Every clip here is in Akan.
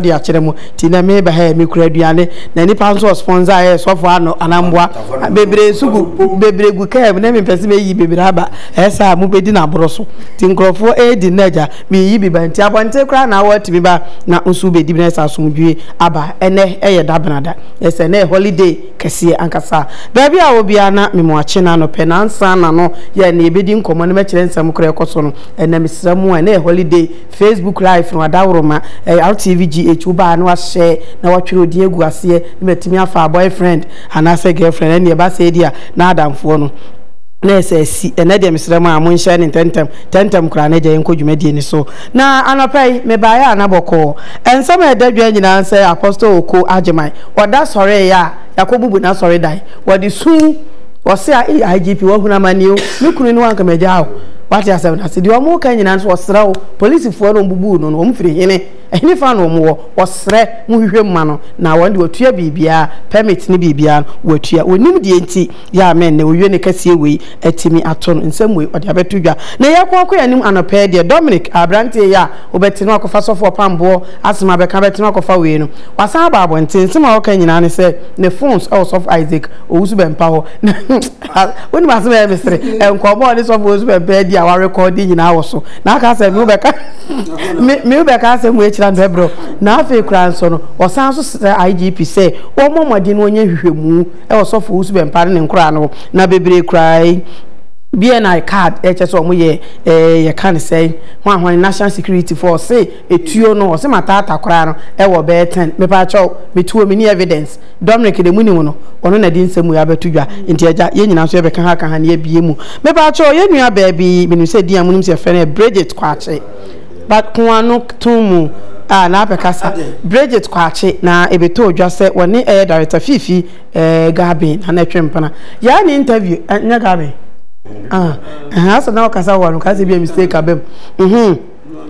de akyerɛ mo ti na me ba ha yɛ me kura aduane na nipa nso wɔ sponsor yɛ sɔfo ano anamboa bebree nso gu bebree gu kaa mu na me mpɛ sɛ meyi bebree aba ɛyɛ sɛ a mo bɛdi na aboro so ti nkurɔfoɔ ɛredi nna agya meyi bi ba nti abɔnten koraa na awɔ atumi ba na nso bɛdi bi na ɛsɛ asomdwie aba ɛnɛ ɛyɛ da benada ɛsɛ na holiday kɛseɛ ankasa baabi a wɔ biara na me mo akye na anɔpɛ na ansa na no yɛ na yɛbɛdi nkɔmɔ na mɛkyerɛ nsɛm korɛ ɛkɔ so no ɛnɛ mesrɛ mo a ɛnɛ yɛ holiday Facebook live no adaworoma ɛyɛ Rtv GH wo baa na wahyɛ na watwere odin agu aseɛ na matumi afa a boyfriend anaasɛ girlfriend ɛnneɛ ɛba sɛɛ di a na adamfoɔ no na ɛsɛ asi ɛnɛ deɛ mesrɛ mo a monhyɛ no ntɛntɛm ntɛntɛm koraa na agya yɛnkɔ dwumadie no so. Na anɔpa yi mebaeɛ a na bɔkɔɔ. Nsɛm a ɛda dwa nyinaa nsɛ Apostle Oko Agyeman ɔda sɔreeɛ a. Yɛakɔbubu n'asɔredan. Wɔde sum Wɔse a ei IGP wahunu amanneɛ o, me kunu ne wo anka magyaa wo. Woate asɛm no ase. Deɛ wɔreka nyinaa nso ɔsrɛ wo. Polisifoɔ no a wɔbubuu no no, wɔn firi hene? Ɛhene fã na wɔn wɔ? Ɔsrɛ mo hwehwɛ mu ma no na wɔn deɛ wɔatua biribiara, permit ne biribiara no wɔatua. Wɔnnim deɛ nti. Yɛ a mɛnnɛ owie ne kɛseɛ wei atumi ato no nsɛm wei ɔde abɛto dwa. Na yɛ ko akɔ yɛn anim anɔpa yi deɛ Dominic aberanteɛ yi a wobɛte no akɔfa sɔfo ɔpamboɔ asɛm abɛka bɛte no akɔfa wei no wasan aba abɔnten nsɛm a ɔka nyinaa ne sɛ ne phones wɔ sɔfo Isaac Owusu-Bɛmpa hɔ na wonim asɛm a ɛyɛ me sere nkɔmmɔ a ɔne sɔfo Owusu-Bɛmpa adi a warekɔɔde nyinaa wɔ so na aka sɛ me wo bɛka me me wo bɛka asɛm wei kyerɛ no bɛbrɛ na afei koraa nso no ɔsan nso srɛ IGP sɛ wɔmmɔ mmɔden na wɔnyɛ nhwehwɛmu wɔ sɔfo wo subɛmpa no ne nkoraa no na bebree koraa yi BNI card ɛkyɛ sɛ ɔmo yɛ ɛɛ yɛ ka ne sɛɛ hwan hwan national security fo ɔse etuo no ɔse mataata koraa no ɛwɔ bɛɛ ten mepa kyɛw me tuo me ni evidence Dominic de mo nim no ɔno na de nsɛm wei abɛto dwa nti agya yɛn nyinaa nso yɛ bɛka ha ka ha ne yɛ bie mu mepa kyɛw yɛn nua baa bi menim sɛ din a mo nim sɛ yɛ frɛ no yɛ Bridget Kwakye. Bakoa no too mu a na abɛkasa. Bridget Kwakye na ebetoo dwa sɛ wɔne ɛyɛ director Fifi Garbin na na ɛtwe mpena. Yɛayɛ no interview, ɛnyɛ Garbin? Ah, ɛhɛn, asɛ na ɔkasa wɔ hɔ no, nka sɛ ebia mistake aba mu. Mhmm.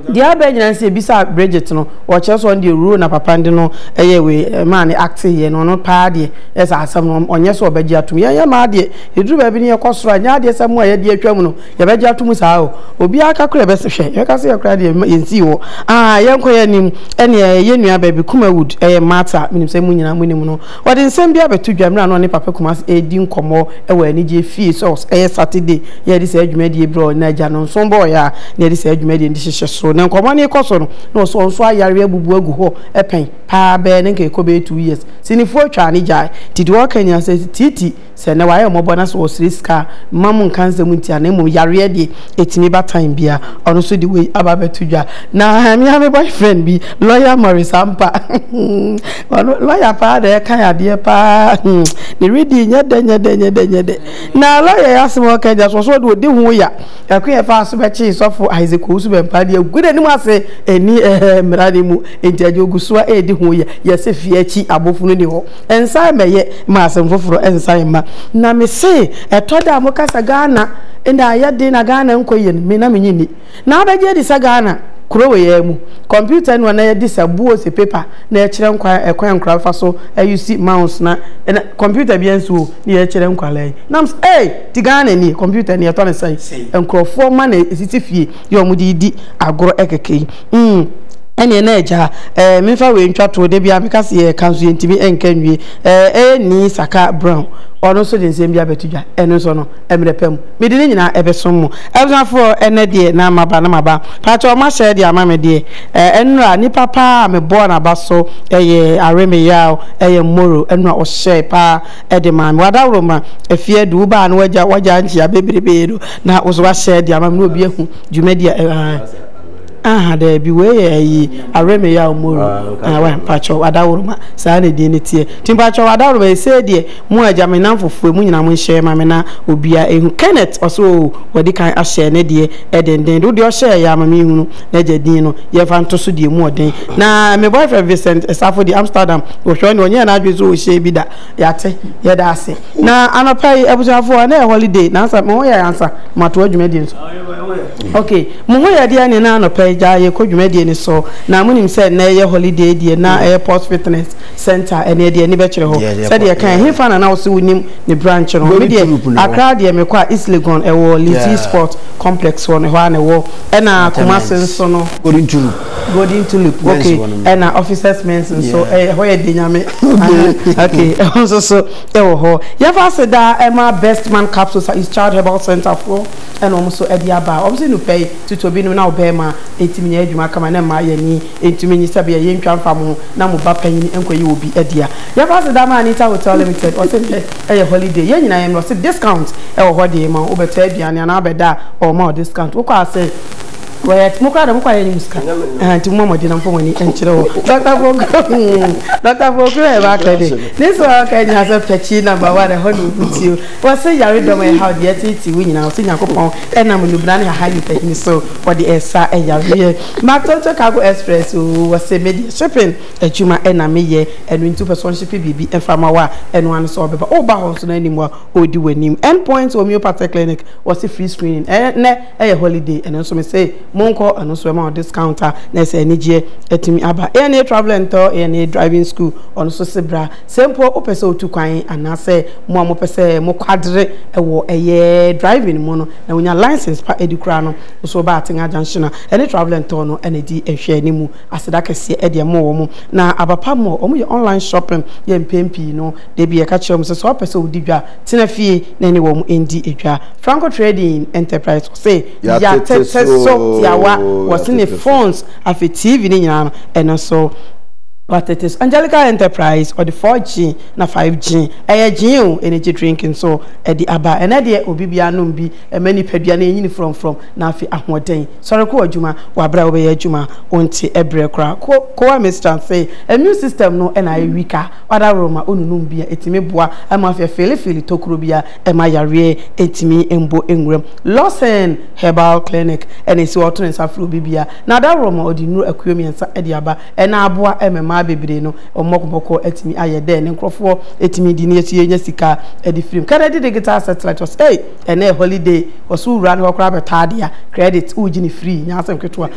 Deɛ aba nyinaa no sɛ yɛbisaa Bridget no, ɔkyerɛ sɛ ɔno deɛ role na papa no de no yɛɛ wei, ɛmaa no acte yɛ no, ɔno paa deɛ, ɛyɛ sɛ asɛm no ɔnyɛ sɛ ɔbɛgye atom. Yɛn yɛmmaa deɛ, ɛduru baabi no yɛkɔ soro a, ɛnyɛ adeɛ sɛ mo a yɛadi atwam no, Yɛbɛgye ato mu saa o. Obiara ka koro a ɛbɛso hwɛ. Yɛbɛka sɛ yɛn koraa deɛ yɛn nsii hɔ. Aah yɛnkɔ yɛn anim. Ɛneɛ yɛn nua baabi Kuma Wood, ɛyɛ Martha, menim sɛ mo nyinaa mo nim no. Ɔde nsɛm bi abɛto dwa mmerɛ a na ɔne Papa Kumase ɛredi nkɔmmɔ wɔ anigyeɛ fie sɛ ɔs ɛyɛ Saturday na yɛde saa dwumadie yi brɛɛ na agya no nso bɔɔeɛ a na yɛde saa dwumadie no de hyehyɛ so. Na nkɔmmɔ no rekɔ so no na ɔs ɔnso ayare abubu agu hɔ pɛn paa bɛɛ na nka ɛkɔ bɛyɛ two years. Sinifoɔ twaa no gyae. Nti deɛ ɔreka nyinaa sɛ Tiiti, Sɛ nnɛ wayɛ mmɔbɔ na sɛ ɔsrɛ sika a, mma mo nka nsɛm ntia no, na mmom yareɛ deɛ ɛtumi ba time biara, ɔno nso de wei aba abɛto dwa. Na me ara me boyfriend bi, lawyer Morris Ampah, ɔno lawyer paa na ɛka adeɛ paa, ne reading nyɛ dɛ nyɛ dɛ nyɛ dɛ nyɛ dɛ. Na lawyer yi asɛm a ɔka nyinaa so, ɔsɛ ɔde ɔdi ho ya. Ɛkwan a ɛfaa so bɛkyee sɔfo Isaac Owusu Bɛmpa deɛ agu n'anim ase, ɛnni ɛhɛɛ mmara no mu, enti ɛdeɛ ɔgu so ara redi ho ya, yɛse fie akyi abofono nni hɔ. Nsan mmɛyɛ ma asɛm foforɔ nsan mma. Na me se ɛtɔ da a mo ka sɛ Ghana na ayɛ den na Ghana nkɔ yie no, me na me nye nni. Na abɛgye adi sɛ Ghana, kuro wei ara mu, computer anu a na yɛde sa buo ose paper na yɛkyerɛ nkwadaa ɛkwan a nkwadaa bɛfa so use mouse na ɛna computer biara nsi hɔ o na yɛkyerɛ nkwadaa yi. Na me se ei! Nti Ghana nie, computer nie, yɛtɔ no sɛn? Nkorɔfoɔ mma na ɛsisi fie. yi a wɔde redi agorɔ kɛkɛ yi, mm, ɛnneɛ na agya, ɛɛ, memfa wei ntwa toɔ, da biara meka sɛ yɛreka nso yɛntumi nka nwie, ɛɛ, ɛyɛ Nii Saka Brown, ɔno nso de nsɛm bi abɛto dwa, ɛno nso no, mmerɛ pa mu, mede ne nyinaa bɛsom mo. Abusuafoɔ, ɛnnɛ deɛ na maba na maba. Mpakyɛw, moahyɛ de ama me deɛ, ɛɛ, nnora, nnipa pa ara a mebɔɔ n'aba so, ɛyɛ Aremeyaw, ɛyɛ Mmoro, ɛno na ɔhyɛe pa ara de maa me. W'adaworo ma, Afiadu, wobaa no, w'agya, w'agya nkyea bebrebe no, Na wo nso woahyɛ de ama me na obi ahu dwumadi a ɛwɔ ha. Aha, daabi, wei yɛ ayi, aweremeyaw moru. Ah, wai, mpakyɛw, adaworoma, saa na edin no teɛ. Nti mpakyɛw, adaworoma, esei deɛ, mo agya, me nnamfo foe, mo nyinaa monhyɛ ma me na obiara ehu. Kenneth, ɔse, Oo, wadi kan ahyɛ ne deɛ denden de, wo deɛ ɔhyɛɛ yɛ a ma menhunu n'agya din no, yɛmfa nto so deɛ emu ɔden. Na me boyfriend Vincent, Safo deɛ, Amsterdam, wohwɛ ɔno deɛ ɔnyɛɛ n'adwene sɛ ɔrehyɛ bi da. Yɛate. Yɛda ase. Na anɔpa yi, abusuafoɔ, ɛnɛ yɛ holiday, nansa mo ho yɛ ansa mo atoa dwumadie no so? Ok, mo ho yɛ deɛ ne na anɔpa yi gyaa yɛkɔ dwumadie no so, na mo nim sɛ nnɛ yɛ holiday deɛ na ɛyɛ Pulse Fitness Centre, ɛneɛ deɛ ani bɛkyerɛ hɔ. Sɛdeɛ ɛkaɛ, ɛhefa na na wo se wo nim ne branch no? Me deɛ, Accra deɛ mekɔ a, East Legon, ɛwɔ Lizzy Sport Complex hɔ no, ɛhɔ ara na ɛwɔ, ɛna Kumasi nso no, Golden Tulip men's okay. hɔ no. Ɛna officers men's nso yeah. ɛyɛ hɔ yɛ de nyame. okay ɛho nso so ɛwɔ hɔ. Yɛfa ase daa ɛma Best Man Capsules a East Child Herbal Center foɔ ɛna wɔn nso ɛde aba. Wɔn nso nupɛ yi tutu obi nom na ɔbɛrima ɛtumi nyɛ adwuma kama na mmaa yɛn ani ɛntumi nyi sɛbi ɛyɛ ntwa mfa mo na mo ba panyin nkɔ yi wɔ bi ɛdea. Yɛfa ase daa ma Anita Hotel Limited ɔse nɛ ɛyɛ holiday yɛn nyinaa yɛn mmerɛ ɔse discount ɛwɔ hɔ de ma wo bɛtɔ aduane anaa bɛda a ɔma ɔ discount wokɔ ase Wɔyɛ mo koraa deɛ mo kɔ ayɛ anim sika ɛhɛn nti mo mɔ mmɔden na mfa mo ani nkyerɛ hɔ Doctor Foku hmm Doctor Foku na yɛba akɔ de ne sɛ ɔka nyina sɛ pɛkyii number one ɛhɔ na obu tio wɔse yaredɔm a ɛhaw deɛ ɛteetee wo nyina wɔse Nyankopɔn ɛnam nubena ne hahan nipa hini so ɔde ɛsa ɛyareɛ ma Tonto Cargo Express oo wɔse me deɛ shipping adwuma ɛna me yɛ ɛno nti wopɛ sɛ ɔnhyepe biribi ɛmfa ma wo a ɛno ara ne sɛ ɔbɛba woba hɔ nso na anim a ɔredi w'anim End Point Homeopathy Clinic wɔse free screening ɛnɛ ɛyɛ holiday ɛno nso mese monkɔ ɛno nso ɛma discount a na ɛsɛ anigyeɛ atumi aba ANA travel and tour ANA driving school ɔno nso se bra sɛ mpo wopɛ sɛ wotu kwan anaasɛ mo a mopɛ sɛ mokwadere ɛwɔ ɛyɛ driving mu no na wonya license pa ɛdi koraa no nso ba Atenga junction a ɛne travel and tour no ɛna ɛdi nhwɛ ne mu aseda kɛseɛ ɛdeɛ mo wɔ mo na abapa mo wɔn yɛ online shopping yɛ mpɛn pii no da bi ɛka kyerɛ mo sɛ sɛ wopɛ sɛ wodi dwa tena fie na ɛne wɔn ndi dwa. Franco Trading Enterprise ɔse, Yɛatete so tiawa wɔ sene, phones, afei TV no nyinaa no ɛno nso wɔatete so. Angelica Enterprise ɔde 4G na 5G, ɛyɛ gyen o, energy drink nso ɛde aba. Ɛnnɛ deɛ obi biara nom bi ɛma nipadua no ɛnyini frɔmfrɔm na afei ahoɔden. Sɔre kɔ w'adwuma wɔ aberɛ a wobɛyɛ adwuma, wonte ɛberɛ koraa. Kowa Mistran se, immune system no na ayɛ weaker. Kpadaroro ma onunum bi a etumi boa ma afia feelefeele tokuro bi a ɛma yareɛ ntumi mmɔ nwuram. Lawson Herbal Clinic na ɛsi hɔ a ɔto ne nsa frɛ obi bia na adaroro ma ɔde nnuro akuo mmiɛnsa de aba na aboa ma mmaa bebree no wɔn bɔkobɔkɔ atumi ayɛ dɛ ne nkorɔfoɔ tumi di na yɛso yɛnya sika de firi mu. Kennedy Digital Satelite ɔse. ɛnɛ holiday ɔsɛ wowura no hɔ koraa bɛtɔ ade a credit wogye ne free nyɛ asɛm ketewa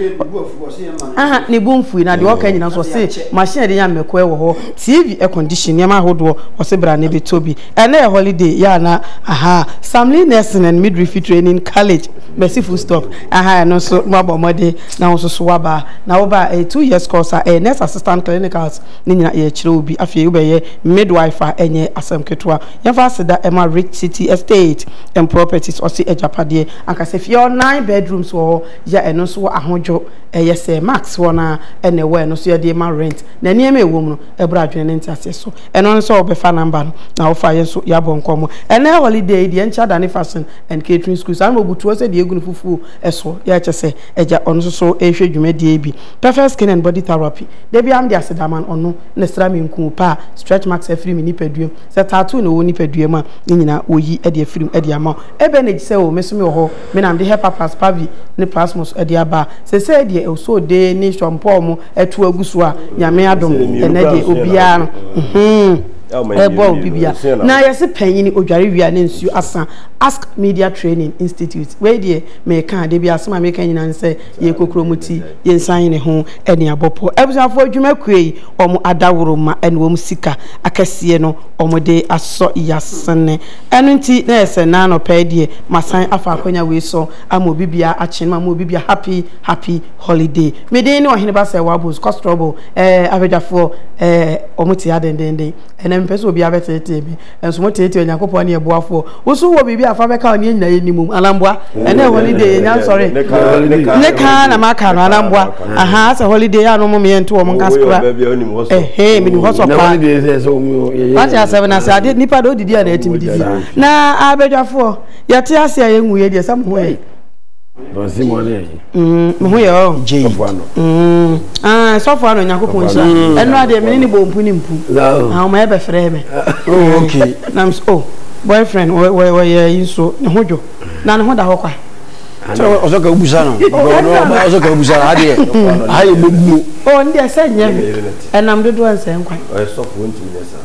aha ne bo mfui na deɛ ɔka nyina nso ɔse machine de nya mmɛkoɛ wɔ hɔ tv air condition nneɛma ahodoɔ ɔse bra ne bɛtɔ bi ɛnɛ holiday yɛ ana aha samli nursing and midwifery training college mɛsi full stop aha ɛno nso mo abɔ mmɔden na wo nso so waba na woba a ɛyɛ two years course a ɛyɛ nurse assistant clinicals ne nyina yɛkyerɛ obi afei wobɛyɛ midwife a ɛnyɛ asɛm ketewa Yɛfa aseda ma Rich City Estate and Properties ɔse agyapadeɛ ankasa fie a nine bedrooms wɔ hɔ yi a ɛno nso wɔ ahodwo ɛyɛ sɛ Max hɔ no ara na ɛwɔ a ɛno nso yɛde rema rent na nneɛma a ɛwɔ mu no ɛboro adwene ne nteaseɛ so ɛno ara ne sɛ wobɛfa number no na wofa a yɛn nso yɛabɔ nkɔmmɔ. Ɛnnɛ holiday yi deɛ ɛnkyɛ adane fashion and catering school saa na wɔbutuo sɛ deɛ ɛgu no fufuo soɔ yɛ kyɛ sɛ agya ɔno nso so rehwɛ dwumadie yi bi Perfect Skin and Body Therapy da biara mede aseda ma no ɔno na ɛsra me nkuu paa stretch marks afiri me nipadua mu Sɛ tattoo na ɔwɔ nipadua mu a, ne nyinaa wɔyi de afiri mu de ama wo. Ebɛn na egye sɛ o, me nso mewɔ hɔ, me na mede Hepa plus Pavi ne Plasmos de aba a, seesei deɛ Osode ne Sean Paul mo atu agu so a, Nyame adom, ɛnnɛ deɛ obiara no, hmmm, ɛbɔ a obi bia. Na yɛse panyini odware wie a na nsuo asa, ask Media Training Institute. Wei deɛ, meka a, da biara asɛm a meka nyinaa ne sɛ, yɛkokuro mo ti. Yɛnsan yɛn ho ne abɔpɔ abusuafo adwuma kuo yi wɔn adaworo ma ɛne wɔn sika akɛseɛ no wɔn de asɔ yasene ɛno nti na yɛsɛ na anɔpa yi deɛ masan afa akwanya wei so ama obi biara akyen ma ma obi biara happy happy holiday me den ne ɔhene ba sɛ wabos kɔ strɔbo ɛɛ abadwafoɔ ɛɛ wɔn te adendenden ɛnɛ mpɛ sɛ obiara bɛtetee me Nso mo teetee Onyankopɔn ne ɛboafoɔ. Wo nso wowɔ biribi a fa bɛka ɔne anyina yɛnni mom anaa mboa? Ɛnɛ holiday yɛ nya nsɔre. Ne kaa na maka no anaa mboa? Ahaa asɛ holiday ano mo meyɛ nto wɔn nka skra. Ɛhee menim hɔ sɔ paa. Wate asɛm na sɛ ade nipa de odidi a na ɛtimi didi. Na abadwafoɔ yɛte ase a yɛnwuiɛ deɛ sɛ mo ho yɛ. meho yɛ ɔ sɔfo ano nyankopɔn nhyira ɛno adeɛ mene ne bɔ mpu ne mpu ɔma yɛ bɛfrɛ me nam so oh boyfriend wɔyɛ yi nso ne ho dwo na ne ho da hɔ kwa ɔsɔ ka wobusa no ɔsɔ ka wobusa no adeɛ ayɛ bɛbuo ɔ ne deɛ sɛ nyɛ me ɛnam dodoɔ nsɛ nkwan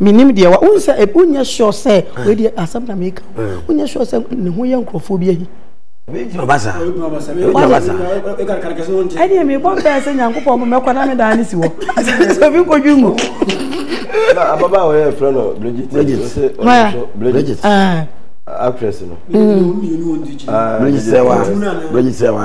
Menim deɛ wa, wohu sɛ ebi wonyɛ sure sɛ ah. wei deɛ asɛm na meka o, ah. wonyɛ sure sɛ ne ho yɛ nkurɔfoɔ bi ahi. ɛdeɛ mebɔ mpɛɛ sɛ nyankopɔn mo mɛkɔ na medaa ne si hɔ sɛ obi nkɔdwe mu ababa a wɔyɛ frɛ no bridget ah. actress no mm. bridget sɛ wa bridget sɛ wa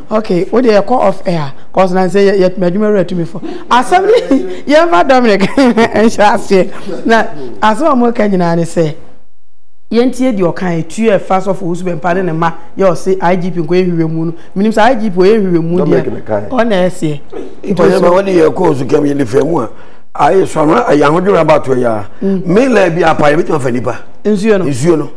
Okay, what they call off air? Cause I say yet my dream read to me for. Asami, you ever Dominic? And shall say, now, as one more can you say, yɛntie deɛ ɔka ɛtuo a ɛfa sɔfo wusu bɛ mpa ne ne ma yɛ ɔse igp nkɔ yɛ hwehwɛ mu no menim sɛ igp ɔyɛ hwehwɛ mu deɛ ɔna ɛseɛ ɔyɛ ma wɔde yɛ kɔɔ so kɛm yɛ ne fɛ mu a ayɛ sɔnra ayɛ ahodwira bato yɛ a mela bi apa yɛ bɛtumi afa nipa nsuo no nsuo no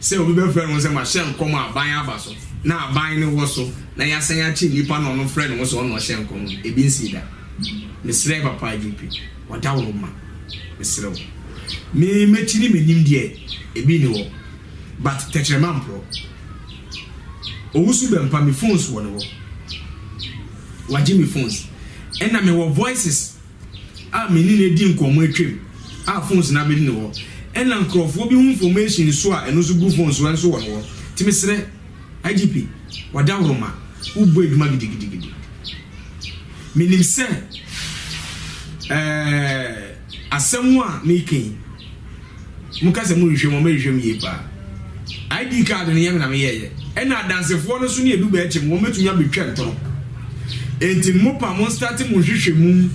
Sɛ obi bɛfrɛ ne ho sɛ mahyɛ nkɔm a aban aba so na aban no wɔ so na yɛasan akye nnipa na ɔno frɛ ne ho sɛ ɔno na ɔhyɛ nkɔm no, ebi nsii da. Mesrɛɛ Papa JP, Ɔdawuroma, mesrɛ wo. Me, m'akyi ne m'anim deɛ, ebi nni hɔ, but tɛkyerɛma mporɔ. Owusu Bɛmpa, me phones wɔ ne hɔ. Wagye me phones. Ɛnna mewɔ voices. a me ne no adi nkɔmmɔ atwam a phones na mede no hɔ ɛna nkurɔfoɔ bi ho information nso a ɛno nso gu phone so ɛnso wɔ no hɔ nti mesrɛ IGP Wadawuroma wobɔ adwuma gidigidigidi menim sɛ ɛɛ asɛm a meka yi Mo ka sɛ mo rehwɛ mu a, mo rehwɛ mu yie paa. ID card no nyɛ me na me yɛɛyɛ. Ɛna adansefoɔ no nso ne edu bɛɛkye mo, wɔn bɛtumi abɛtwa ntoro. Enti mo pa mo nstate mo nhwehwɛ mu,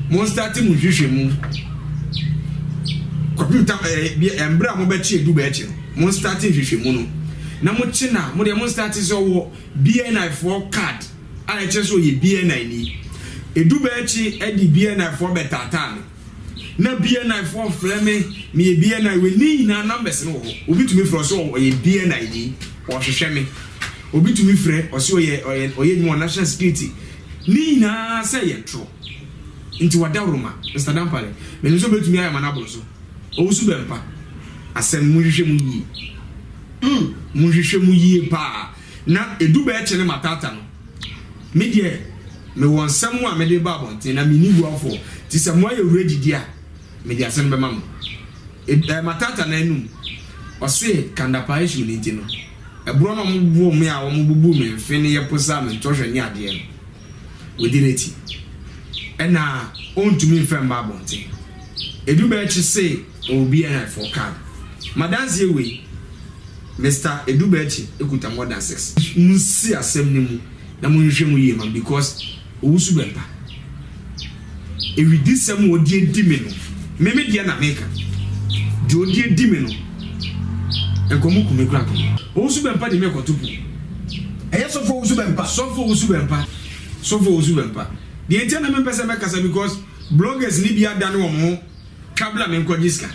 mo nstate mo nhwehwɛ mu. Kɔpem tam ɛɛ eh, bi ɛmbrɛ eh, a mo bɛkye edu bɛɛkye no, mo nstate nhwehwɛ mu no. Na mo kye na mo deɛ mo nstate sɛ ɔwɔ BNI foɔ card a ɛkyerɛ sɛ ɔyɛ BNI ni. Edu bɛɛkye ɛde BNI foɔ bɛtaataa me. Na BNI foɔ frɛ me meyɛ BNI wei ne nyinaa numbers no wɔ hɔ obi tumi frɛ ɔsɛ ɔyɛ BNI ni ɔhwehwɛ me obi tumi frɛ ɔsɛ ɔyɛ ɔyɛ ɔyɛ adwuma wɔ national security ne nyinaa sɛ yɛ toro nti wada roma Mr Dampare menim sɛ obɛtumi ayɛ ma no aboro so ɔwo so bɛmpa asɛm monhwehwɛ mu yie mm monhwehwɛ mu yie paa Na edu bɛyɛ kyene matata no, me deɛ mewɔ nsɛm a mede reba abɔnten na menni buafoɔ, nti sɛ moayɛ werɛ gyidie a, mede ase no bɛma mo. Ed, ɛɛ, matata no anum. Ɔse Kandapaa issue no nti no, ɛborɔ na wɔbobɔɔ me a wɔbubuu me mfe ne yɛposaa me ntɔhwɛ ne adeɛ no, wodi n'ekyi. Nna onntumi mmfa mmba abɔntsen. Edubaa ekyir see ɔwɔ bea na afei ɔkaa no. M'adanse yɛ wei, Mister Edubaa ekyir ekuta more than six. Munsi asɛm no mu na monhwehwɛ mu yie ma me because owu so bɛmmpa. Awidisɛm a ɔde adi me no, me me deɛ na meka. Deɛ ɔde adi me no, nkɔmmɔ ku me kora ko. Owusu bɛmpa de me kɔto po. Ɛyɛ sɔfo owusu bɛmpa. Sɔfo owusu bɛmpa. Sɔfo owusu bɛmpa. Deɛ nti a na mempɛ sɛ mɛkasa because bloggers no bi adane wɔn ho twa bla me nkɔgye sika.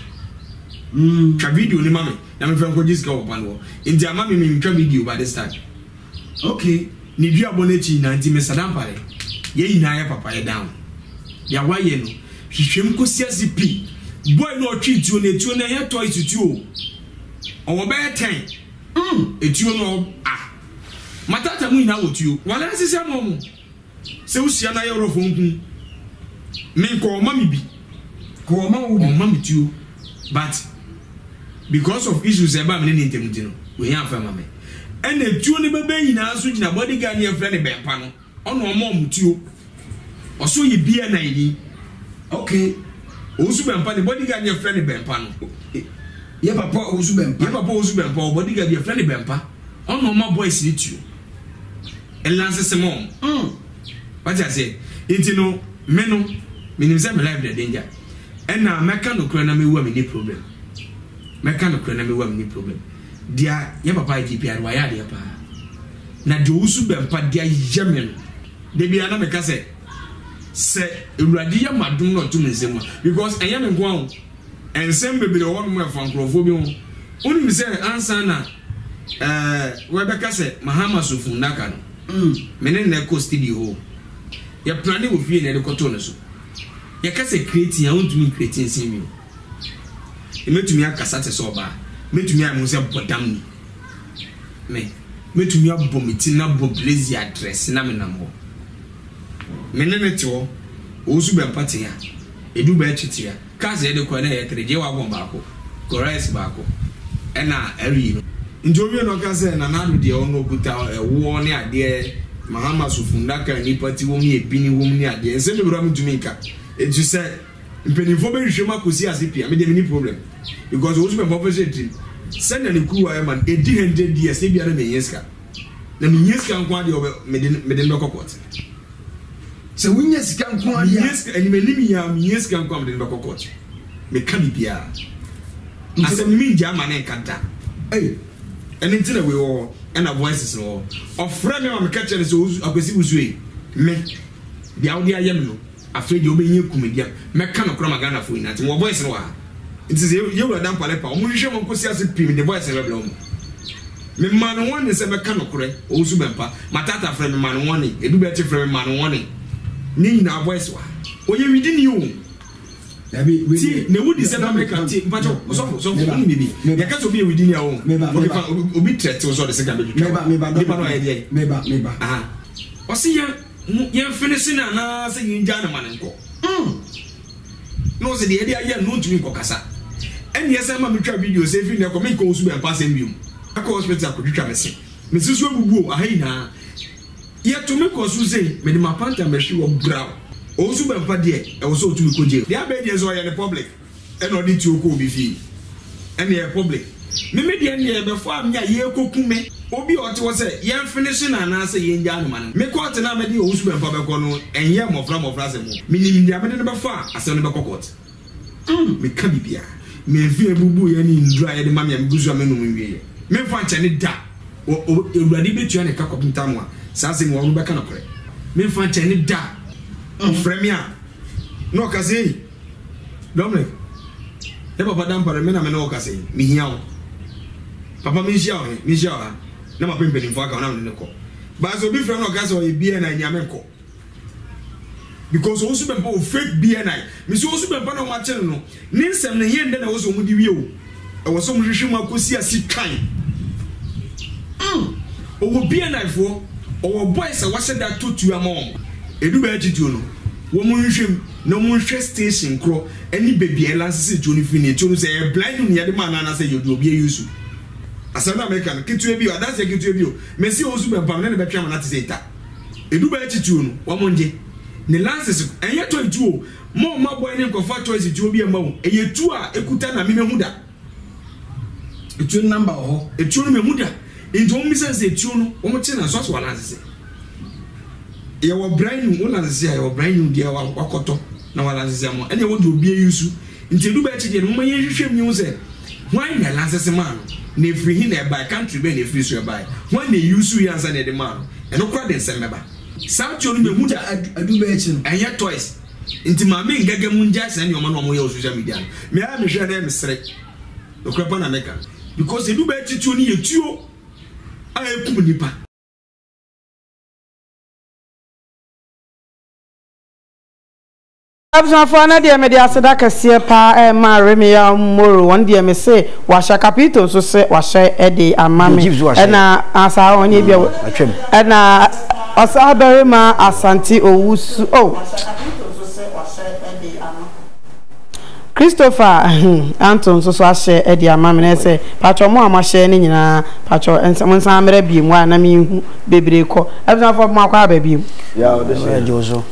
Twa video no ma me na memfa nkɔgye sika wɔ ɔba no hɔ. Nti ama me mentwa video ba this time. Ok ne duabɔ no akyi nyinaa nti me sada mpaeɛ yɛn nyinaa yɛ papa yɛ down deɛ wayɛ no hwehwɛm kɔsi ase pi boy no ɔtwe tuo no etuo no ɛyɛ toys tuo o ɔwɔ bɛyɛ ten mm etuo no ah matata mu nyinaa wɔ tuo wale asesɛ mo mo. Sɛ wo hyia no a yɛ w'rɛfo nku me nkɔ ɔma me bi ɔma me tuo but because of issues ɛba me ne ne ntam nti no ohia afa ama me ɛna tuo ne bɛbɛ nyinaa so gyina body guard ne yɛfrɛ ne bɛmpa no ɔna ɔma ɔmo tuo ɔso yɛ bia na ɛni okay ɔwusu bɛmpa ne body guard ne yɛfrɛ ne bɛmpa no yɛ papa ɔwusu bɛmpa yɛ papa ɔwusu bɛmpa ɔ body guard yɛfrɛ ne bɛmpa ɔna ɔma boys ne tuo nnansesɛm wɔn mm wate aseɛ nti no me no menim sɛ me life na danger ɛna mɛka nokorɛ na mewu a menni problem mɛka nokorɛ na mewu a menni problem deɛ yɛ papa IGP a wayɛ adeɛ paa na deɛ ɔwusu bɛmpa deɛ ayɛ me no da biara na meka sɛ sɛ awurade yɛ madom na ɔtom nsɛm a because ɛnyɛ me nko a Nsɛm bebree wɔ hɔnom a ɛfa nkurɔfoɔ bi ho. Wonim sɛ ansa na ɛɛ wɔbɛka sɛ Mahama so funnaka no, me ne no na ɛkɔ studio hɔ o. Yɛplane wɔ fie na yɛde kɔtoo no so. Yɛka sɛ kretin a, wontumi nkreti nsen me o. Mɛtumi akasa te sɛ ɔbaa. Mɛtumi ayɛ me ho sɛ bɔdam ni. Me, mɛtumi abɔ me ti na abɔ blazer, adrɛse na menam hɔ. Me ne no te hɔ. Ɔresu bɛ mpa tea. Ɛdu bɛ akyi tea. Cars a yɛde kɔɛ na ɛyɛ three, J-Wagon baako, Corrèze baako ɛna Arie no. Nti ɔwie no ɔka sɛ, Nana Addo deɛ ɔno ɔkuta ɛwoɔ ne adeɛ, Mahamas funnaka a nnipa te wɔ mu yɛ bini wɔ mu ne adeɛ. Nsɛm bebree a mentumi nka. Nti sɛ mpanimfoɔ bɛhwehwɛ mu akɔsi ase pii a, me deɛ menni problem. Because Owusu-Bempah Ɔfasuo yɛ tirim. Sɛdeɛ ne kuruwa yɛ ma no, ɛdi hundred years, ebia na menhia sika. na mehia sika nko adeɛ ɔbɛ mede mede no bɛkɔ kɔɔte sɛ wonya sika nko adeɛ mehia sika anim anim yia mehia sika nko a mede no bɛkɔ kɔɔte meka biribiara asɛm no mengya ama ne nka da ei ɛne nti na wei wɔ hɔ ɛna voices no wɔ ɔfrɛ me ma meka kyerɛ no sɛ akwasi wosue me deɛ wode ayɛ me no Afei deɛ wobɛhia kumadi a mɛka no koraa ma Ghanafoɔ nyinaa ate. Mewɔ voice no wɔ ha. Nti sɛ Yawura Dankwa Lepa a, wɔnhwehwɛ ma nkɔsi ase pii mede voice no bɛbrɛ wɔn. Memaa no warning sɛ mɛka nokorɛ, Owusu Bɛmpa, Mataataa frɛɛ me memaa no warning, Edu Bɛɛkye frɛɛ me memaa no warning. Ne nyinaa voice wɔ ha. Ɔyɛ Widini o. Dabi, wei Ti, deɛ- na ewu di sɛ na meka ti, mpakyɛw, Meba, ɔsɔfo, ɔsɔfo, meba, wonim biribi? meba. Yɛka sɛ obi yɛ Widini a, ɔn, Meba, okay, meba. fa, obi- obi threat wo sɛ ɔde sika bɛtwitwa wo. Meba, meba, Nipa no ayɛ deɛ? Meba, meba. Aha. Ɔse yɛ. Mo yɛmfe no se no anaasɛ yengyaa no ma no nkɔ? Umm! Na ɔse, Deɛ ɛde ayɛ no, ontumi nkɔkasa. Ɛnneɛ san ma metwa video sɛ, Ɛfiri nnɛ kɔ, menkɔ wo Suban mpa asɛm biom. Ɛkɔ hospital akɔtwitwa me se. Me se so abubu o, aha nyinaa. Yɛto me kɔ so sei, mede m'apanta mmɛhwe hɔ, brao. Ɔwo Suban mpa deɛ, ɛwɔ sɛ ɔtumi kɔ jail. Deɛ abɛn deɛ nso, ɔyɛ no public. Ɛna ɔde tuo kɔ obi fie. Ɛna ɛyɛ public. Me me deɛ ndeɛ bɛfɔ a me a yɛɛkɔku me. Obi a ɔte hɔ sɛ yɛn finish no anaa sɛ yɛn gyaa no ma no. Me court no a mɛde owusu bɛmfa bɛkɔ no ɛnyɛ mmɔfra mmɔfra asɛm o. Me nim deɛ mede no bɛfɔ a asɛm no bɛkɔ court. Umm me ka bibia. Me mfe a ɛbubu yɛ ne nduru a yɛde ma me a me gu so a me nom nwieɛ. Me mfa nkyɛ ne da. Wɔ o Awurade bɛtua ne ka kɔpem time a saa asɛm yi wɔ hɔ no bɛka nokorɛ. Me mfa nkyɛ ne da. Ɔfrɛ me a na ɔka sɛ ei. Dominic, Ne papa Dampare, me na me ne wo rekasa yi, mehia wo. Papa, menhyia wo he? Menhyia wo ha, na mapɛ mpanimfoɔ aka wo na me ne no kɔ. But sɛ obi frɛ me na ɔka sɛ ɔyɛ BNI ni a, menkɔ. Because wɔn nso bɛmpa wɔ fake BNI. Mese wɔn nso bɛmpa na wɔakye no no, ne nsɛm no he ɛndɛ na ɛwɔ sɛ wɔde wie o. Ɛwɔ sɛ wɔhwehwɛ mu akosi ase twann. Mm, ɔwɔ BNI foɔ, ɔwɔ boys a wɔahyɛ da tɔ tuo ama wɔn. Ɛdu bɛɛkye tuo no, wɔnhwɛ mu na wɔnhwɛ station korɔ ne baabi a yɛlansese tuo no firi ne tuo no sɛ ɛyɛ blind mu na yɛde maa no anaasɛ yɛde obi ayi so. Asɛm no a meka no, ketewa bi o, adanseɛ ketewa bi o, mɛsi wɔn so bɛmpam ne ne bɛtwe amena te sɛ eta. Ɛdu bɛɛkye tuo no, wɔngye ne lansese, ɛnyɛ tɔe tuo o. Mo mma bɔn ne nkɔfa choice tuo bi ɛma wo ɛyɛ tuo a ɛkuta na me mahu da ɛtuo no number wɔ hɔ ɛtuo no mahu da nti wɔn bisa no sɛ ɛtuo no wɔn kye na so asɔ walansese yɛwɔ brand new wolansese a yɛwɔ brand new deɛ wakɔtɔ na walansese ama ɛne ɛwɔ deɛ obi ayi nsu nti ɛdu bɛakyi deɛ no moma yɛn hwehwɛ mu yɛhu sɛ hwan na ɛlansese maa no na ɛfiri he na ɛbae country bɛn na ɛfiri so ɛbae hwan na ɛyi nsu yɛ ansa na ɛde maa no ɛno kora de nsɛm bɛba Saa tio no mehu no ɛnyɛ toys nti maame ngɛgɛ mo ngyae saa nneɛma no a ɔmo yɛ wɔ social media no me ara mehwɛ na mesere nokorɛ pa na meka because ɛdu bɛɛ titio no yɛ tuo a ɛkum nipa. Abusuafoɔ ɛnɛ deɛ mede aseda kɛseɛ paa ɛrema Remia Moro wɔn deɛ me se wahyɛ Capito nso se wahyɛ ɛde ama me ɛna asaa wɔn nyɛ bia ɛna ɔsaa barima Asante Owusu oh Christopher hmm Anto nso so ahyɛ ɛde ama me na ɛsɛ patro mo a mo ahyɛ ne nyinaa patro ɛnsa mo nsa mmerɛ biem wa na me nhu bebree kɔ abusuafoɔ mo akɔ aba biem.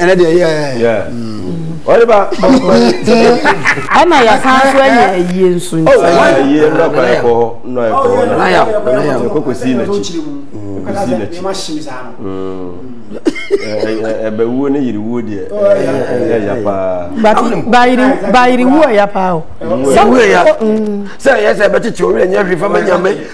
ɛnɛ deɛ yɛ ɔde ba ɛna yɛsan so ayɛ ayie nso nti ayie nnɔ kɔ ɛkɔ hɔ nnɔ ɛkɔ hɔ na ayɛ ɛkɔ kɔ si n'akyi kɔ si n'akyi ɛbɛwuo ne yiriwuo deɛ ɛyɛ ya paa bayiriwuo ɛya paa o sɛ ɛyɛ sɛ ɛbɛtete owurɛ nyɛ hwee fama nyame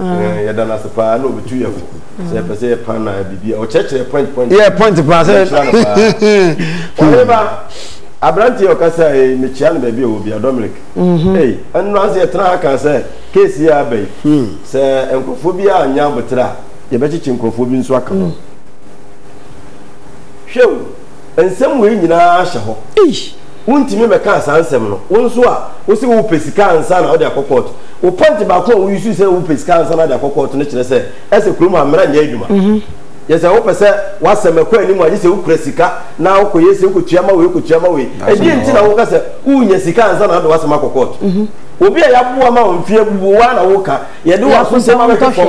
Eh, yɛda no ase paa na ɔbɛtu yɛ fo sɛ yɛpɛ sɛ yɛpa na biribia ɔkyerɛkyerɛ point point yɛ point paa sɛ ɔyere ba aberanteɛ ɔka sɛ eh, mekyia no baabi a ɛwɔ bia dominic mhm. ei ɛno ase yɛtena ha ka sɛ keesi yɛ aba yi hmm. sɛ nkurɔfoɔ bi a nya aboterɛ a yɛbɛkyekye nkurɔfoɔ bi nso aka ho hmm. hwɛ o Nsɛm wei nyinaa hyɛ hɔ. Wontumi mmɛkaa saa nsɛm no. Wo nso a wose wopɛ sika ansa na wode akɔ kɔɔto. Wo pɔnte baako a wo use sɛ wopɛ sika ansa na wode akɔ kɔɔto no kyerɛ sɛ ɛsɛ kurom ha mmara nyɛ adwuma. Yɛ sɛ wopɛ sɛ w'asɛm ɛkɔ anim a gye sɛ wokura sika na wokɔyɛ sei, wokɔtua ma wei, wokɔtua ma wei. Ɛdeɛn nti na woka sɛ wonya sika ansa na wode w'asɛm akɔ kɔɔto? Obi a yɛaboa ma wo mfe abubu wo ara na woka yɛde w'aso nsɛm abɛhwɛ fam.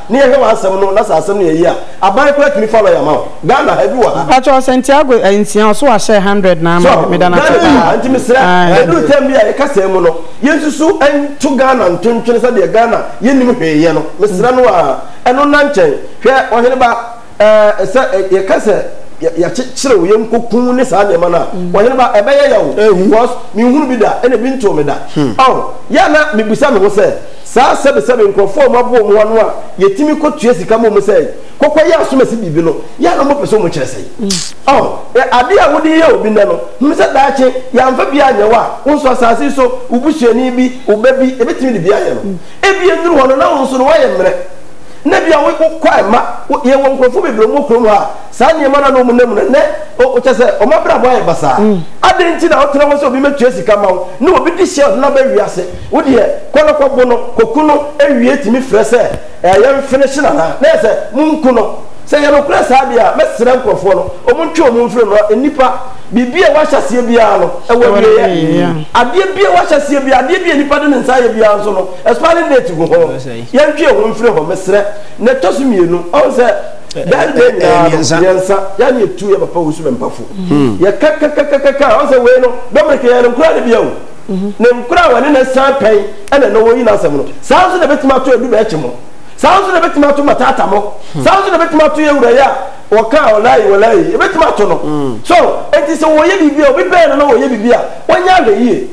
Ne yɛhwɛ w'asɛm no na sɛ asɛm no yɛ yie a aban koraa tumi fa lɔya ma wo. Ghana ha ebi wɔ ha. Mpakyɛw Santiago eh nsia ɔso wahyɛ hundred na ama me meda no ase paa aah. Nti mesrɛ ɛduru term bi a yɛ kasaa mu no yɛ nsusu nto Ghana ntontwene sɛdeɛ Ghana yɛ nnim hwee yɛ no mesrɛ no aah ɛno nna nkyɛn hwɛ ɔhene ba. Ɛɛ, sɛ yɛka sɛ yɛakyekyere wo, yɛnkɔku wo ne saa nneɛma no a, hmm. ɔhene ba, ɛbɛyɛ yɛ wo. Because menhunu bi da, ɛna bi ntoo me da. Hmm. Ɔn, yɛ ana mebisa me ho sɛ, saa sɛbesɛbe nkurɔfoɔ a wɔaboa wɔn ano a yɛtumi kɔtua sika ma wɔn sɛ kɔkɔyɛ asomasi biribi no, yɛ ana wɔpɛ sɛ wɔkyerɛ sɛe? Hmm. Ɔn, adeɛ a wode yɛ obi nnɛ no, hunu sɛ daakye yɛamfa bi anyɛ wo a, wo nso asase yi so, wo busuani bi, wo ba bi, ɛbɛtumi de bi ayɛ no. Ebi nnuru hɔ no, na wo nso no woayɛ mmerɛ. Nnɛ bia wo wo kɔ a ɛmma, wo yɛ wɔ nkurɔfoɔ bebree wɔn wɔ kurom ha a saa nneɛma no a na wɔn nam no nnɛ o o kyɛ sɛ wɔn abrabɔ ayɛ basaa. Adɛn nti na wo tena hɔ sɛ obi mmɛtua sika mma wo na obi di hyɛ ɔno na aba wiase? Wo deɛ kɔ na kɔ bo no, kɔ ku no awie tumi frɛ sɛ ɛɛ yɛ nfinish no anaa? Na yɛ sɛ mo nku no. Sɛ ɛyɛ nokorɛ saa deɛ a mɛ srɛ nkurɔfoɔ no wɔn ntwe wɔn mfiri no a nnipa biribi a ɛwɔ ahyɛseɛ biara no ɛwɔ awieɛ. Adeɛ bi a ɛwɔ ahyɛseɛ biara, adeɛ bi a nnipa de ne nsa ayɛ biara nso no expiring date gu ho. Yɛntwe ho mfiri hɔ mesrɛ. Na ɛtɔ so mmienu, ɔhu sɛ Ghana deɛ nyinaa no mmiɛnsa yɛa na yɛtu yɛ papa wusu mɛmpafo yɛka ka ka ka ka ɔhu sɛ wei no Dominic yɛyɛ no nkoraa no bia o ne nkoraa wɔne no san pɛn ɛna ɛnɛ wɔyi n'asɛm no saa nso na ɛbɛtumi ato adu bɛɛkye mo saa nso na ɛbɛtumi ato matata mo saa nso na ɛbɛtumi ato yɛ wura yɛ a wɔka ɔlaayi wɔlaayi ɛbɛtumi ato no so enti sɛ wɔyɛ biribi a obi bɛn no na wɔyɛ biribi a wɔnyɛ ahwɛ yie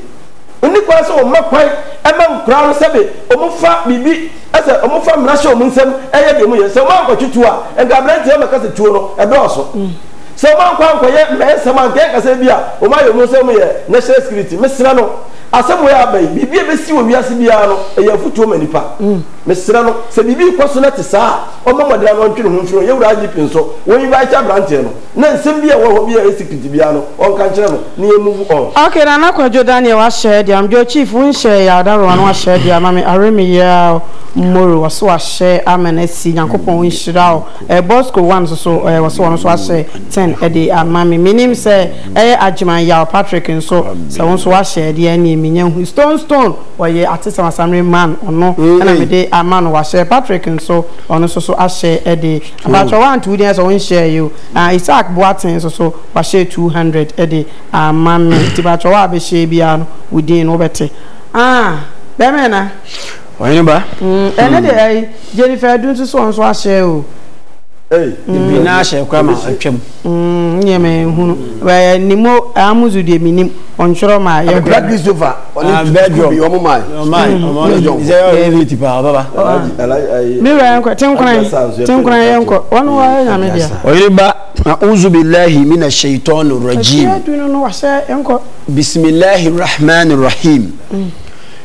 Wonni kwan sɛ wɔma kwan ma nkoraa no sɛbe wɔfa biribi, sɛ wɔfa mmara hyɛ wɔn nsam yɛ deɛ wɔyɛ. Sɛ wɔankɔtwe tuo a, nka aberanteɛ yi ɔbɛka sɛ tuo no dɔɔso. Sɛ wɔankɔ ankɔyɛ mmɛnsɛm a, nka yɛnka sɛ ebia wɔayɛ wɔn sɛ wɔyɛ national security. Mesrɛ no, asɛm wei a aba yi, biribi a ɛbɛsi wɔ wiase biara no, ɛyɛ afotuo ma nnipa. Mesrɛ no, sɛ biribi rekɔ so na ɛte saa a, ɔmmɔ mmɔden ara na ɔntwe ne ho mfiri ho. Yɛn wura IGP nso, wɔn invite aberanteɛ no. Na nsɛm bi a ɛwɔ hɔ bi a esi piti biara no, ɔnka nkyerɛ no na yɛn move on. Ok Nana Kwadwo Daniel wahyɛ de ama Joe Chief wo nhyɛ yɛ Adaworoma no wahyɛ de ama me Are me Year Moro wɔse wahyɛ ama no asi Nyankopɔn nhyira wo eh Bosco One nso so eh wɔse ɔno nso wahyɛ ten de ama me Menim sɛ ɛyɛ Agyeman Yaw Patrick nso sɛ wo nso wahyɛ de ɛneɛ menya hu Stone Stone ɔyɛ Atesɛm Asamire Man ɔno na mede ama no wahyɛ Patrick nso ɔno nso so ahyɛ de Mpakyɛw wanto wo din ayɛ sɛ wonhyɛɛ yɛ o. Ah Isaac Boateng nso so wahyɛ two hundred de ama me nti mpakyɛw a bɛhyɛɛ biara no wo din no wo bɛte. Ah bɛɛma yɛ na. Ɔhene ba. Mm ɛnɛ deɛ ɛyi Jennifer Adu nso so ɔno nso ahyɛ o. Ei Bebree naa hyɛɛ koraa ma atwam. Mm, nneɛ menhunu. Ɛɛ, nim o, Amuzu deɛ menim. Ɔntwerɛ ma yɛ. Abɛpra Christopher, ɔne sukuu bi, ɔmo mae. Sɛ yɛ ɔyɛ late paa, ɔbɛba. Me wura yɛnkɔ, tenkoran, tenkoran yɛnkɔ. Wɔn wɔ ayɛ nyame deɛ. Ɔyere ba, a'uzu bilahi mina shaitɔni rajim. Ɛfie adu no no wahyɛ, yɛnkɔ. Bisimilahi rahmani rahim.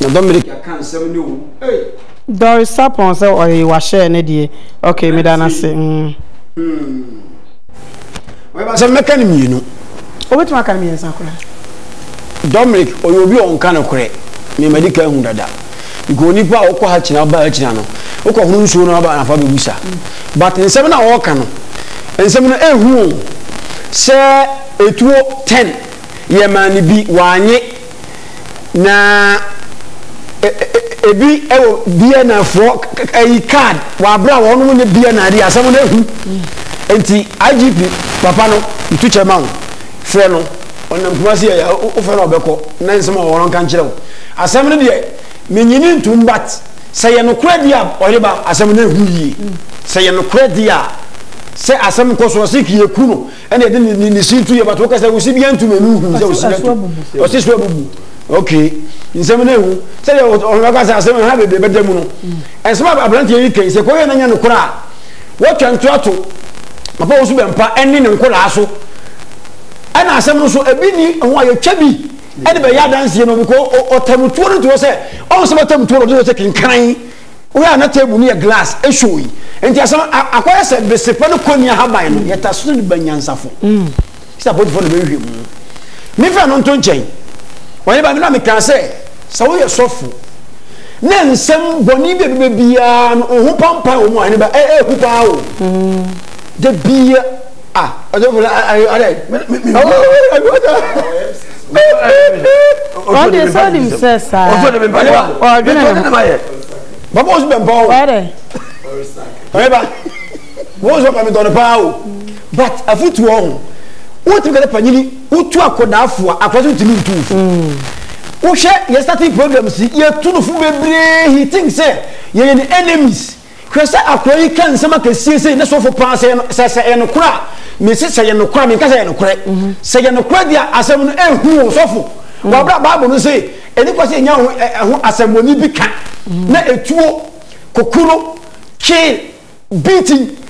Na Dominic aka nsɛm ne o ei. Doris Sapon sɛ ɔyɛ wahyɛɛ ne deɛ ok meda no ase. Ɔyɛba sɛ mɛka no mmienu. Wobɛtumi aka no mmiɛnsa koraa. Dominic ɔyɛ obi a ɔnka nokorɛ me madi ka ahu dada because onipa a wokɔ ha kyina woba ha kyina no wokɔ hono nsuo no aba nafa bɛbusa but nsɛm no a wɔka no nsɛm no ɛhu o sɛ ɛtuo 10 yɛmaa no bi wanye na ebi wɔ BNFfoɔ ɛyi card wɔ abere a wɔn nyɛ BNI de asɛm no ehu nti IGP papa no ntu kyɛ ma wo frɛ no ɔnam kumasi yɛ wofɛ no ɔbɛkɔ na nsɛm a wɔn nka nkyerɛ wo asɛm no deɛ menyini ntum bat sɛ yɛ nokorɛ deɛ a ɔyere ba asɛm no ehu yie sɛ yɛ nokorɛ deɛ a sɛ asɛm nkɔ so ɔsi kii eku no. ɛna ɛde ne ne si tu yɛ bato kasa wo si bi antu na nu hu sɛ wo si bi antu ɔsi so abubu okay nsɛm na ehu sɛ yɛ ɔhɔn kasa asɛm ha bebree bɛda mu no ɛnsɛm a aberanteɛ yi kɛn sɛ kɔyɛ n'anya no kora a wɔtwa nto ato papa wo so bɛ mpa ɛne ne nkoraa so ɛna asɛm no so ebi ni ho a yɛtwa bi ɛde bɛyɛ adanseɛ no bikɔ ɔtamutuo no to hɔ sɛ ɔnsɛm ɔtamutuo no ɔde sɛ kenkan Wohwɛ a na table no yɛ glass ɛshow yi nti asɛm akɔyɛ sɛ besepa no kɔ ni ahaban no yɛta so de ba nyansafo sɛ apolifoɔ na bɛhwehwɛ mu mefɛ no nto nkyɛn wɔne ba me na mekaa sɛ sɛ woyɛ sɔfo na nsɛm bɔne bi a bɛbɛ biara no wo ho pampan wɔ mu a ɛne ba ɛhu paa o da bia Ah, ɔjɔfo na ayi ɔdɛ. Ɔde sɛ ɔnim sɛ saa. Ɔsɔ de mi mpaye ba. Ɔdwene ne ho. Baba ɔsɔ bɛ mpawo. Ɔdɛ. Ɔyɛ ba. Wɔn sɔ pami tɔn paa o. But afutu ɔho. Wotumi kɛlɛ panyini wotu akɔdaafo a akɔdaafo ntumi ntu nfu. Wohwɛ yɛ starting programs yɛ tu no fo bebree he think sɛ yɛyɛ ne enemies. Hwɛ sɛ akoa yi ka nsɛm akɛseɛ sei ne sofo paa sɛ sɛ sɛ ɛyɛ nokorɛ a mese sɛ yɛ nokorɛ a menka sɛ yɛ nokorɛ mhm. sɛ yɛ nokorɛ deɛ asɛm no ɛhu wo sɔfo mhm. wɔabrɛ bible no se ɛni kwa sɛ ɛnya ho asɛmmɔne bi ka mhm. na ɛtuo kokuro kye beating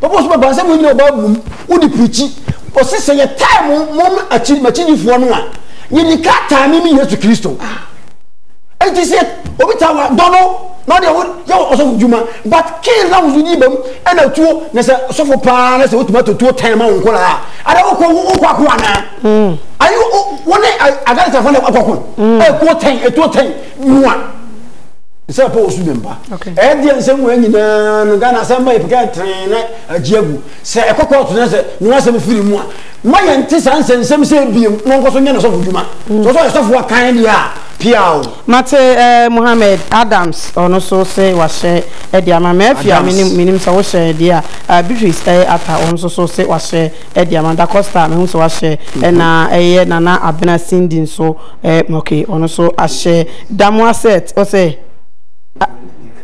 Papa Osu bɛba sɛ mo nyina ɔba abum wo de pirikyi ɔse sɛ yɛ tae mo mo akyi makyidifoɔ no a yɛ ni ka tae me me Yesu Kristo ɛnti sɛ obi ta wa dɔ no na ɔde ɛho yɛ wɔ ɔsɔfo dwuma but kee na wosu yi bam ɛna tuo na sɛ sɔfo paa na sɛ wotumi ato tuo tae ma wo nkɔla a ada wokɔ wokɔ ako anaa mm. ayi wo ne agarita fɔ na akɔko ɛkuo tae ɛtuo tae mua sɛ pɛ osu ne mba ɛdeɛ nsɛm wɔ nyinaa no ghana asɛm ba yɛpɛkɛ tren na agye agu sɛ ɛkɔkɔ ɔto no sɛ ne wasɛm firi mu a ma yɛnte saa nsɛnsɛm sɛ ebiem na ɔnkɔ so nyɛ ne sɔfo dwuma mm. sɛ ɔsɛ ɔyɛ sɔfo akan deɛ a pia o mate eh, mohammed adams ɔno so se wahyɛ ɛde ama ma afia menim sɛ wohyɛ ɛdeɛ a eh, beatrice ɛyɛ eh, ata ɔno so so se wahyɛ de ama Da Costa a mahu sɛ wahyɛ ɛna ɛyɛ Nana Abena Cindy nso eh, okay ɔno nso ahyɛ Damoa set ɔsɛ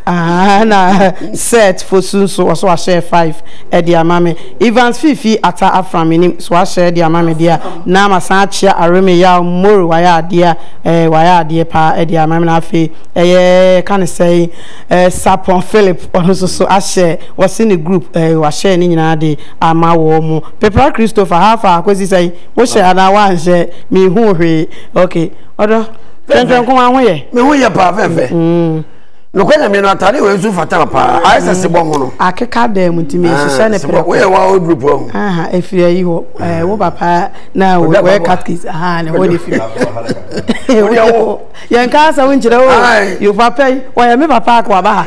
Ah, na set fosu nso ɔso wahyɛ five ɛde ama me Evans Fifi ata afra menim so wahyɛ ɛde ama me deɛ na masan akyea Areme Yaw Moro wayɛ adeɛ eh, wayɛ adeɛ paa ɛde ama me na afei ɛyɛ ka ne sɛ eh, Sapon Philip ɔno nso so ahyɛ wɔse ne group eh, wahyɛ ne nyinaa de ama wɔn mo pepra Christopher ha fa akosi sɛn wo hyɛ anaa wanhyɛ me hu hwee ok ɔdɔ twɛntwɛn nko ma ho yɛ me ho yɛ paa fɛfɛ mm. nokɔ nyame no atade wɔ nso fata paa ayɛ sɛ se bɔ ho no akeka dɛm nti me hyehyɛ ne pere woyɛ wa o group ho aha efiri ayi hɔ eh, wo papa na wɔyɛ catkis aha ne hɔ ne firi yɛn ka asɛm nkyerɛ o yo papa yi wɔyɛ me papa akɔ aba ha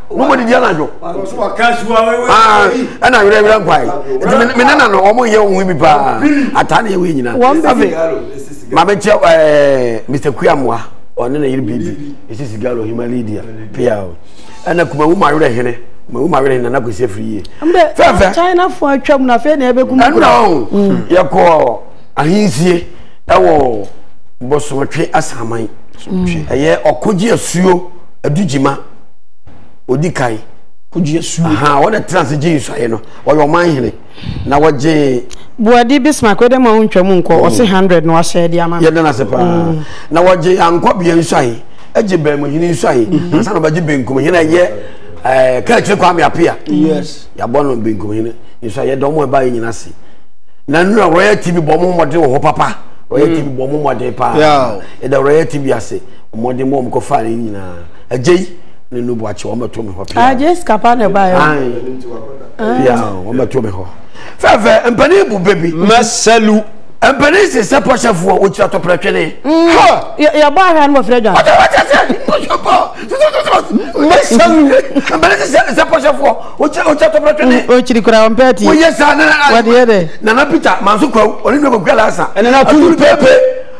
mo mo didi anadwo ah, ɛna werɛwerɛ nkwae nti me nana no ɔmo yɛ wo ho bi paa ataa na yɛ wei nyina afei mabɛkyɛ eh, mr kuamoa ɔne na yere bibi ɛsi sigalo himalidia pia ɛna kuma wo mawerɛ hene wo mawerɛ hene nana kwasi afiri yie fɛfɛ chinafoɔ atwam na afei na yɛbɛkum ɛna o mm. yɛkɔ ahensie ɛwɔ bɔsomɔtwe asaman ɛyɛ ɔkogye asuo adugyima ɔdi kan wɔn na tena ase gye nsuaeɛ no ɔyɛ ɔman hene na wɔgye buadi bismark wede ma wontwa mu nkɔ ɔse 100 na wahyɛ de ama yɛda no ase paa mm. na wɔgye ankɔbea nsuae agye bɛnmuhene nsuae mm-hmm. ansa na ɔbɛgye benkum hene ɛyɛ eh, kɛkyere kwame apea yɛabɔ no benkum hene nsuae yɛda ɔmo ɛba yɛ nyina se na nnura royal tv bɔ ɔmo mmɔden wɔ hɔ papa royal mm. tv bɔ ɔmo mmɔden paa yɛda royal tv ase mmɔden bɔ ɔmo kɔfaa ne nyinaa ɛgye yi ne no buakye wɔn bɛto me hɔ pia ah jesi kapa na ɛba yɛ pia wɔn bɛto me hɔ fɛfɛ mpanin bu bɛbi mɛsɛlu mpanin sisɛ pɔsɛfoɔ wɔkyerɛ tɔpɛrɛtwene yɛbɔ ahwɛ no wɔfrɛ dwa mɛsɛlu mpanin sisɛ pɔsɛfoɔ wɔkyerɛ tɔpɛrɛtwene ɔkyiri kora ɔmpɛ ti wɔyɛ saa nana peter manso kwaw ɔne nwa kɔkura lasa ɛnana tulu pepe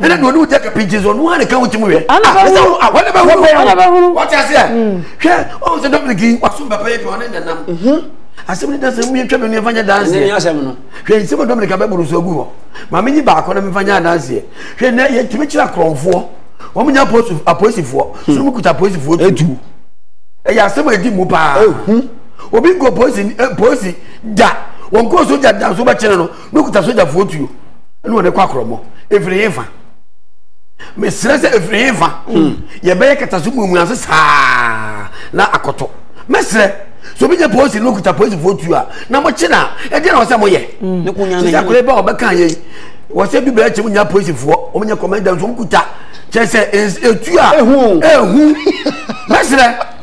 ɛna deɛ ɔne wo tɛ kapinti nso ɔno ara ne ka wo tim wɛ ɛsɛ wo awɔ ne bɛhunu wɔte aseɛ hwɛ ɔhu sɛ dominic yi wasom papa yɛ adwuma ɔne nanam asɛm ne dasɛ mu yɛtwa menu yɛmfa nyɛ danseɛ hwɛ nsɛm a dominic abɛboro so agu hɔ ma menyi baako na memfa nyɛ adanseɛ hwɛ nɛ yɛtumi kyerɛ akorɔmfoɔ wɔn nya apolisifoɔ so mu kuta apolisifoɔ tu ɛyɛ asɛm a ɛdi mu paa obi nkɔ polisi polisi da wɔn kɔɔ so gya da so bɛkyerɛ no mekuta sogyafoɔ tuo ne wɔde kɔ akorɔmɔ ɛfiri he fa mesrɛ sɛ ɛfiri he fa hmm. yɛbɛyɛ kataso muamua ase saa na akɔtɔ mɛsrɛ so bi nyɛ polisi ne okuta polisifoɔ tuo a na mokye no a ɛdeɛ na wɔ sɛ moyɛ sɛ sɛ akora bɛ a wɔbɛka yɛi wɔ sɛ bi bɛɛ kyɛ mu nya polisifoɔ wɔmnyɛ kɔmɛnda nso wɔkuta kyɛ sɛ ɛtu a ɛhu mɛsrɛ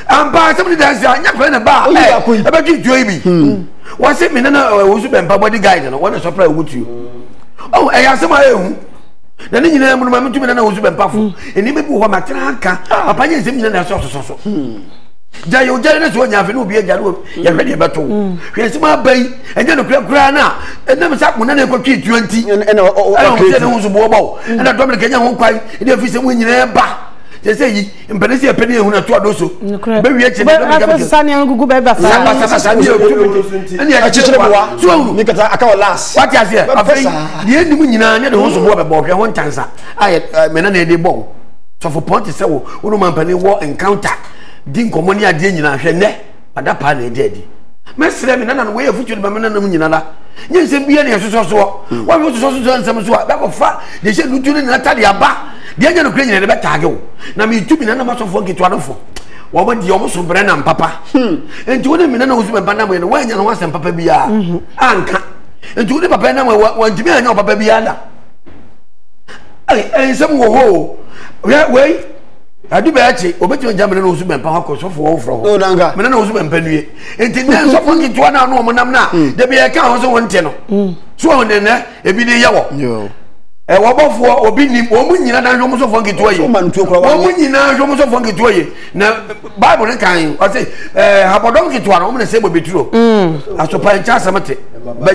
ampa asɛm ne dansi anyɛ kora ne ba ɛbɛtwe ntuo yi bi wɔse me nana ɔwusu bɛmpa bɔde guide no wɔne sɔpra ɛwu tuo ɔhu ɛyɛ asɛm a ɛhu na ne nyinaa mu no ma metumi nana ɔwusu bɛmpa fo nneɛma bi wɔ hɔ matena anka papa nyɛ nsɛm nyina na ɛsɛ ɔsoso so gya yɛ ogya ne so ɔnya afei ne obi agya no yɛhwɛ deɛ ɛbɛto hwɛ nsɛm aba yi ɛnyɛ nokora koraa no a ɛnam sɛ mo nana ɛkɔtwe tuo nti ɛna ɔsɛ ne ho so boɔbɔ ɛna dɔm ne kɛnyɛ ho kwan ɛde afisɛm nyinaa ba sɛ sɛ yi mpɛne sɛ yɛpɛ ne yɛhunu ato ado so bɛwie kyɛ ne dɔmi gɛmɛ sɛ ne agugu bɛɛ ba saa ba saa saa ne yɛ otu ne yɛ kyekyere bɔ wa so ahu ne kata aka wɔ las wate aseɛ afei deɛ nim nyinaa ne de ho so bɔ bɛbɔ hwɛ ho ntansa a yɛ mɛna na yɛde bɔ wo sɔfo pɔn te sɛ wo wo no ma mpɛne wɔ encounter di nkɔmmɔ ne adeɛ nyinaa hwɛ nɛ adapaa na ɛda adi mɛsrɛ me nana no wɔyɛ afotuo de ma me nana mu nyinara nyɛ nsɛm bia ne ɛsosɔ soɔ hmm. wɔne wososɔ sosɔ nsɛm so a bɛkɔfa deɛ hyɛ nutu no nyina tade aba deɛ nyɛ nokorɛ nyina de bɛtaage wo na metu me nana masɔfoɔ nketewa no fo wɔn deɛ wɔn so brɛ nam papa hmm. nti wo ne me nana wo so bɛba nam yɛ no wɔanya no ho asɛm papa biara hmm. anka nti wo ne papa nam wɔntumi anya wo papa biara da nsɛm wɔ hɔ o wei adu bɛyɛ kye obetumi gya mene ne wosu bɛmpa akɔ sɔfo wɔ wofrɛ hɔ mene ne wosu bɛmpa nue nti nnɛ nsɔfo nketewa no a ɔmo nam no a hmm. da bi yɛka ho so wonte no hmm. so ɔmo nnɛ ebi de yɛ wɔ ɛwɔ bɔfoɔ obi nim wɔn mu nyinaa na nhwom sɔfoɔ nketewa yie wɔn mu nyinaa nhwom sɔfoɔ nketewa yie na baibu ne kan yi ɔsi ɛɛ habɔdɔm nketewa na wɔn na sɛ bɔ beturo hmm. asopa nkyɛn asɛm te bɛ.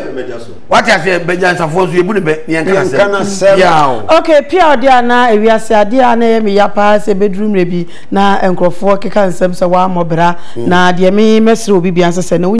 wate aseɛ bɛnyansafoɔ nso yɛbu ne bɛ ne yɛnka nasɛm biaa o ok pia ɔde a na ewiase adeɛ a na ɛyɛ me ya paa sɛ bɛduru mmerɛ bi na nkurɔfoɔ keka nsɛm sɛ woammɔ bra na deɛ me mɛsrɛ obi bia nso sɛ na